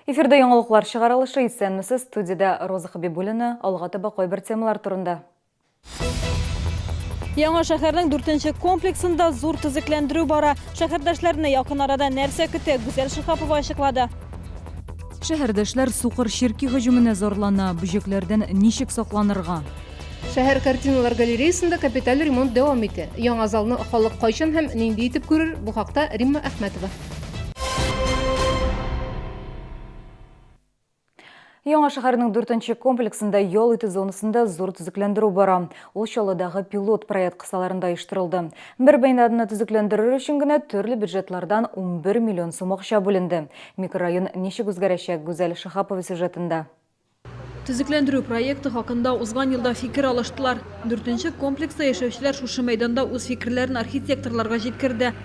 Эфирда яңалыклар чыгарылышы исәнмесез студиядә Роза Хабибуллина алга таба кайбер темалар турында. Яңа шәһәрнең дүртенче комплексында зур төзекләндерү бара. Шәһәрдәшләрне якын арада нәрсә көтә, Гүзәл Шихапова ачыклады. Шәһәрдәшләр сукыр черки һөҗүменә зарлана, бөҗәкләрдән ничек сакланырга? Шәһәр картиналар галереясында капиталь ремонт дәвам итә. Яңа залны халык кайчан һәм нинди итеп күрер, бу хакта Римма Әхмәтова. Яңа шәһәрнең дүртенче комплексында ял итү зонасында зур төзекләндерү бара. Ул Чаллыдагы пилот проект кысаларында оештырылды. Бер бинаны төзекләндерер өчен генә төрле бюджетлардан 11 миллион сум акча бүленде. Микрорайон ничек үзгәрәчәк, Гүзәл Шиһапова сюжетында. Төзекләндерү проекты хакында узган елда фикер алыштылар. Дүртенче комплекста яшәүчеләр шушы мәйданда үз фикерләрен архитекторларга җиткерде.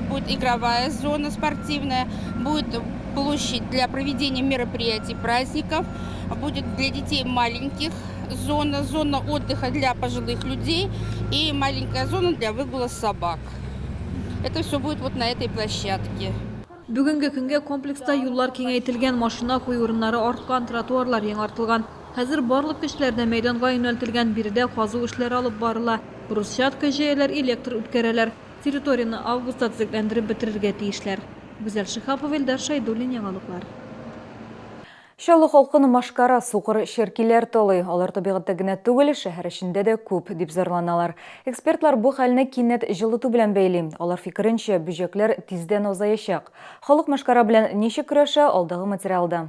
Будет игровая зона спортивная, будет площадь для проведения мероприятий, праздников, будет для детей маленьких зона, зона отдыха для пожилых людей и маленькая зона для выгула собак. Это все будет вот на этой площадке. Бүгенге көнгә комплекста юллар киңәйтелгән, машина куй урыннары арткан, тротуарлар яңартылган. Хәзер барлык көчләр дә мәйданга юнәлтелгән, биредә казу эшләре алып барыла. Брусчатка җәяләр, электр үткәрәләр. Территорияне августта төзекләндереп бетерергә тиешләр. Гүзәл Шиһапова, Илдар Шәйдуллин, Яңалыклар. Чаллы халкын машкара, сукыр черкиләр талый. Алар табигатьтә генә түгел, шәһәр эчендә дә күп, дип зарланалар. Экспертлар бу хәлне кинәт җылыту белән бәйли. Алар фикеренчә, бөҗәкләр тиздән азаячак. Халык машкара белән ничек көрәшә, алдагы материалда.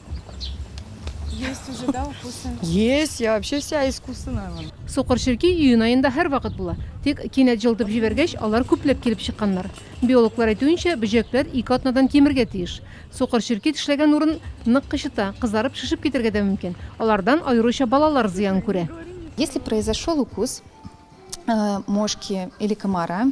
Есть уже, да, укусы? Есть, я вообще вся искусственная. вон. Сукыр черки июнь аенда һәрвакыт була. Тик кинәт җылытып җибәргәч, алар күпләп килеп чыкканнар. Биологлар әйтүенчә, бөҗәкләр ике атнадан кимергә тиеш. Сукыр черки тешләгән урын нык кычыта, кызарып шешеп китәргә дә мөмкин. Алардан аеруча балалар зыян күрә. Если произошел укус э, мошки или комара,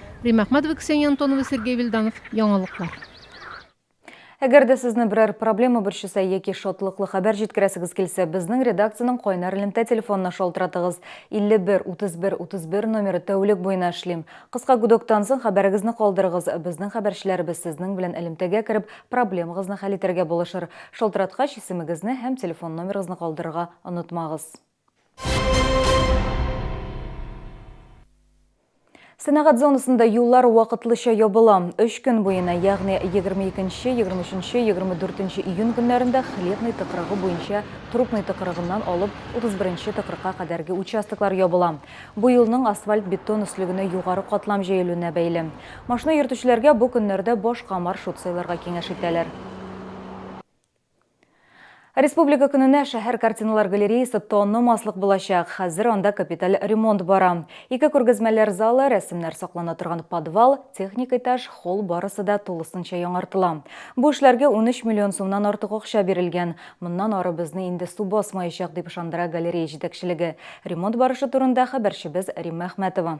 Римма Ахматова, Ксения Антонова, Сергей Вильданов, Яңалыклар. Әгәр дә сезне берәр проблема борчыса яки шатлыклы хәбәр җиткерәсегез килсә, безнең редакциянең кайнар элемтә телефонына шалтыратыгыз. 51 31 31 номеры тәүлек буена эшлим. Кыска гудоктан соң хәбәрегезне калдырыгыз. Безнең хәбәрчеләребез сезнең белән элемтәгә кереп, проблемагызны хәл итәргә булышыр. Шалтыраткач, исемегезне һәм телефон номерыгызны калдырырга онытмагыз. Сәнәгать зонасында юллар вакытлыча ябыла. Өч көн буена, ягъни 22-нче, 23-нче, 24-нче июнь көннәрендә хлебный тыкрыгы буенча трупный тыкрыгыннан алып 31-нче тыкрыкка кадәрге участоклар ябыла. Бу юлның асфальт-бетон өслегенә югары катлам җәелүенә бәйле. Машина йөртүчеләргә бу көннәрдә башка маршрут сайларга киңәш итәләр. Республика көненә шәһәр картиналар галереясы танымаслык булачак. Хәзер анда капиталь ремонт бара. Ике күргәзмәләр залы, рәсемнәр саклана торган подвал, техник этаж, холл барысы да тулысынча яңартыла. Бу эшләргә 13 миллион сумнан артык акча бирелгән. Моннан ары безне инде су басмаячак, дип ышандыра галерея җитәкчелеге. Ремонт барышы турында хәбәрчебез Римма Әхмәтова.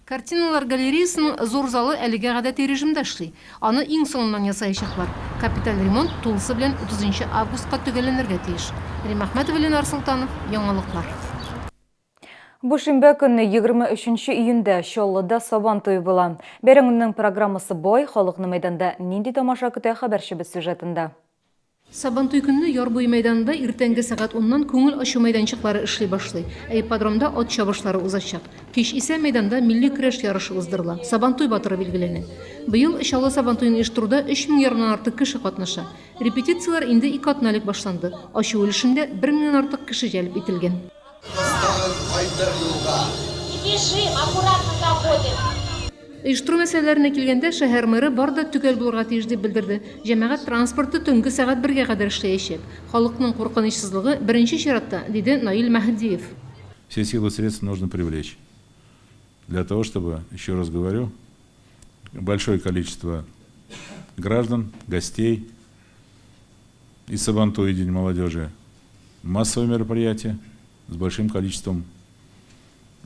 Картиналар галереясының зур залы әлегә гадәти режимда эшли. Аны иң соңыннан ясаячаклар. Капиталь ремонт тулысы белән утызынчы августка төгәлләнергә тиеш. Рим Әхмәтова, Ленар Солтанов, Яңалыклар. Бу шимбә көнне, егерме өченче июньдә, Чаллыда Сабан туе була. Бәйрәмнең программасы бай, халыкны мәйданда нинди тамаша көтә, хәбәрчебез сюжетында. Сабантуй көнне яр буе мәйданында иртәнге сәгать уннан күңел ачу мәйданчыклары эшли башлый, ә ипподромда ат чабышлары узачак. Кич исә мәйданда милли көрәш ярышы уздырыла, Сабантуй батыры билгеләнә. Быел Чаллы Сабантуен оештыруда өч мең ярымнан артык кеше катнаша. Репетицияләр инде ике атна элек башланды, ачу өлешендә бер меңнән артык кеше җәлеп ителгән. Тагын кайтыр юлга. Бежим, аккуратно заходим. Оештыру мәсьәләләренә килгәндә, шәһәр мэры бар да төгәл булырга тиеш дип белдерде. Җәмәгать транспорты төнге сәгать бергә кадәр эшләячәк. Халыкның куркынычсызлыгы, беренче чиратта, диде Наил Мәһдиев. Все силы средства нужно привлечь для того, чтобы, еще раз говорю, большое количество граждан, гостей И Сабантуй, и День молодежи. Массовые мероприятия с большим количеством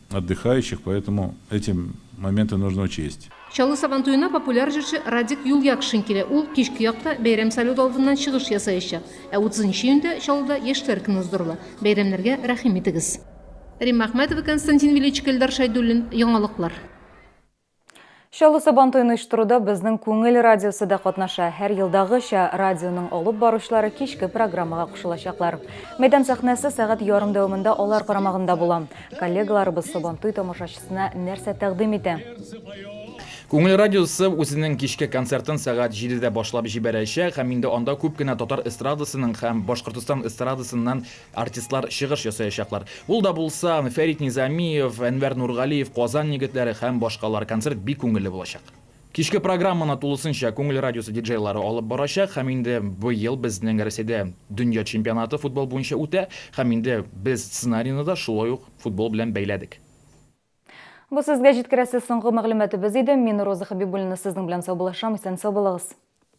отдыхающих, поэтому эти моменты нужно учесть. Чаллы Сабантуена популяр җырчы Радик Юльякшин килә. Ул кичке якта бәйрәм салюты алдыннан чыгыш ясаячак. Ә 30 нчы июньдә Чаллыда Яшьләр көне уздырыла. Бәйрәмнәргә рәхим итегез. Римма Әхмәтова, Константин Величко, Эльдар Шәйдуллин, Яңалыклар. Чаллы Сабантуен оештыруда безнең Күңел радиосы да катнаша. Һәр елдагыча радионың алып баручылары кичке программага кушылачаклар. Мәйдан сәхнәсе сәгать ярым дәвамында алар карамагында була. Коллегаларыбыз Сабантуй тамашачысына нәрсә тәкъдим итә? Күңел радиосы үзенең кичке концертын сәгать җидедә башлап җибәрәчәк һәм инде анда күп кенә татар эстрадасының һәм Башкортостан эстрадасыннан Артистлар чыгыш ясаячаклар. Ул да булса, Фәрит Низамиев, Әнвәр Нургалиев, Казан егетләре һәм башкалар. Концерт бик күңелле булачак. Кичке программаны тулысынча Күңел радиосы диджейлары алып барачак һәм инде быел безнең Рәсәйдә дөнья чемпионаты футбол буенча үтә һәм инде без сценарийны да шулай ук футбол белән бәйләдек. Бу сезгә җиткерәсе соңгы мәгълүматыбыз иде. Мин Роза Хәбибуллина сезнең белән саубуллашам. Исән-сау булыгыз!